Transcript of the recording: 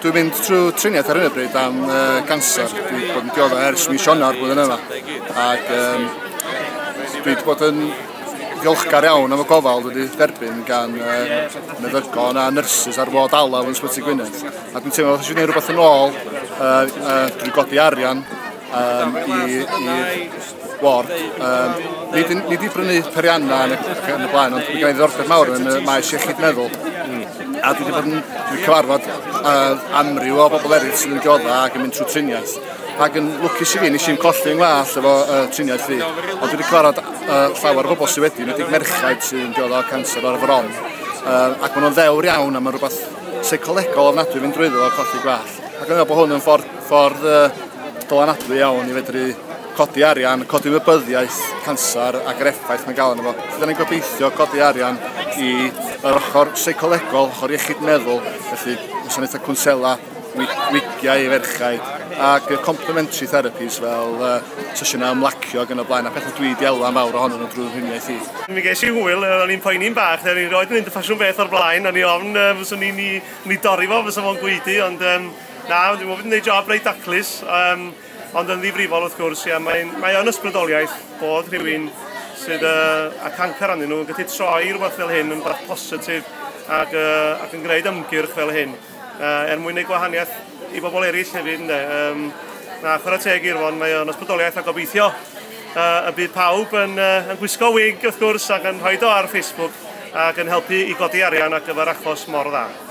Dwi'n mynd trwy triniaeth ar hyn o bryd am uh, cancer. Dwi wedi bod yn diodda ers mis Ionawr blwyddyn yma. Ac um, dwi wedi bod yn ddiolchgar iawn am y gofal wedi derbyn gan uh, meddygon a nyrsys ar fod alaf yn Sbyty Gwynedd. A dwi'n teimlo bod eisiau gwneud rhywbeth yn ôl uh, uh, drwy godi arian um, i, i ward. Um, nid, nid i brynu perianna yn y, yn y blaen, ond mae gen i ddorfod mawr yn y maes iechyd meddwl. Mm. A dwi wedi bod yn cyfarfod uh, amryw o bobl eraill sydd yn diodda ac yn mynd trwy triniaeth. Ac yn lwcus i fi, nes i'n colli yng nglas efo uh, triniaeth fi. Ond dwi wedi cyfarfod uh, llawer o bobl sydd wedi, nid i'n merchaid sydd yn diodda o cancer o'r fron. Uh, ac maen nhw'n ddewr iawn a mae'n rhywbeth seicolegol ofnadwy fynd drwyddo o colli gwell. Ac yna bod hwn yn ffordd, ffordd uh, dylanadwy iawn i fedru codi arian, codi wybyddiaeth canser ac yr effaith mae'n gael yna fo. Felly, da ni'n gobeithio codi arian i yr ochr seicolegol, ochr iechyd meddwl, felly gwasanaethau cwnsela, wigiau i ferchau ac complementary therapies fel uh, sesiynau ymlacio ac yn y blaen a pethau dwi wedi elwa mawr ohonyn nhw drwy'r rhwniaeth i. Mi ges i hwyl, o'n i'n poeni'n bach, o'n i'n roed yn mynd y ffasiwn beth o'r blaen, o'n i ofn uh, fyswn i'n i Ni dorri fo, fysa fo'n gweidi, ond um, na, dwi'n meddwl bod yn gwneud job reit daclus, um, ond yn ddifrifol wrth gwrs, ia, mae'n mae o'n ysbrydoliaeth bod rhywun sydd uh, a cancer anyn nhw yn gallu troi rhywbeth fel hyn yn bach positif ac, uh, ac yn gwneud ymgyrch fel hyn uh, er mwyn ei gwahaniaeth i bobl eraill hefyd ynddo. Um, na, chwarae teg i'r fon, mae o'n ysbrydoliaeth a gobeithio uh, y bydd pawb yn, uh, yn gwisgo wig wrth gwrs ac yn rhoi do ar Facebook ac yn helpu i godi arian ar gyfer achos mor dda.